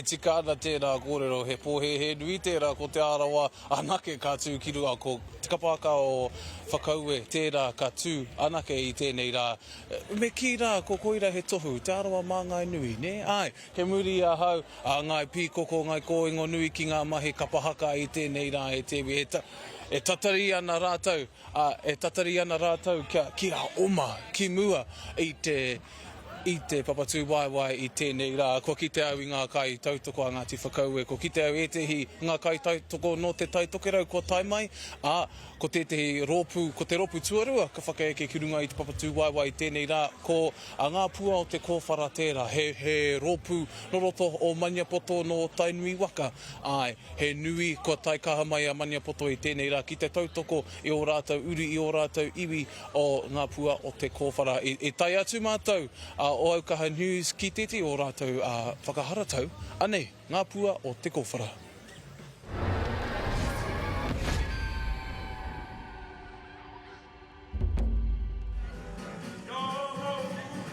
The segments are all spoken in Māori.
E tika ana tēnā kōrero, he pōhēhē nui tērā ko Te Arawa anake ka tū ki runga, ko Te Kapāka o Whakaue tērā ka tū anake i tēnei rā. Me kī rā, ko koira he tohu, Te Arawa mā Ngāi Nui, nē? Āe, he muri i ahau, a Ngāi Pīkoko, Ngāi Kōingonui ki ngā mahi kapa haka i tēnei rā, e te iwi. E tatari ana rātou, ā, e tatari ana rātou kia oma ki mua i te I te papatūwaewae i tēnei rā, kua kite au i ngā kaitautoko a Ngāti Whakaue, kua kite au ētehi ngā kaitautoko nō Te Tai Tokerau kua tae mai, ā, ko tētehi rōpū, ko te rōpū tuarua ka whakaeke ki runga i te papatūwaewae i tēnei rā, ko a Ngā Pua o Te Kōwhara tērā, he, he rōpū nō roto o Maniapoto, nō Tainui waka, āe, he nui, kua tae kaha mai a Maniapoto i tēnei rā ki te tautoko i ō rātou uri, i ō rātou iwi, o ngā pua o te kōwhara. I tae atu mātou o Aukaha News ki tētehi o ō rātou whakaharatau, anei ngā pua o te kōwhara.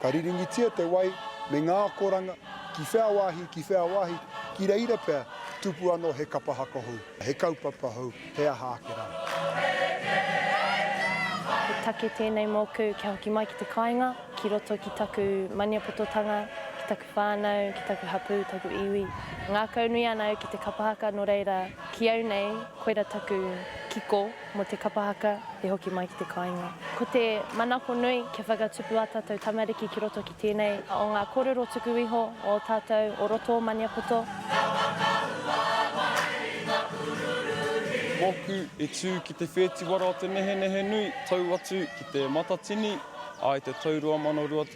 Ka riringitia te wai me ngā akoranga, ki whea wāhi, ki whea wāhi, ki reira pea, tupu anō he kapa haka hou, he kaupapa hou, he aha ake rā. He take tēnei mōku kia hoki mai ki te kāinga, ki roto ki taku Maniapototanga, ki taku whānau, ki taku hapū, taku iwi. Ngākaunui ana au ki te kapa haka, nō reira, ki au nei, koira taku kiko. Mō te kapa haka i hoki mai ki te kāinga. Ko te manako nui kia whakatupu ā tātou tamariki ki roto ki tēnei o ngā kōrero tuku iho o ō tātou o roto o Maniapoto. Mōku i tū ki te whētiwara o te nehenehe nui tau atu ki te Matatini, ā, i te tau 2020.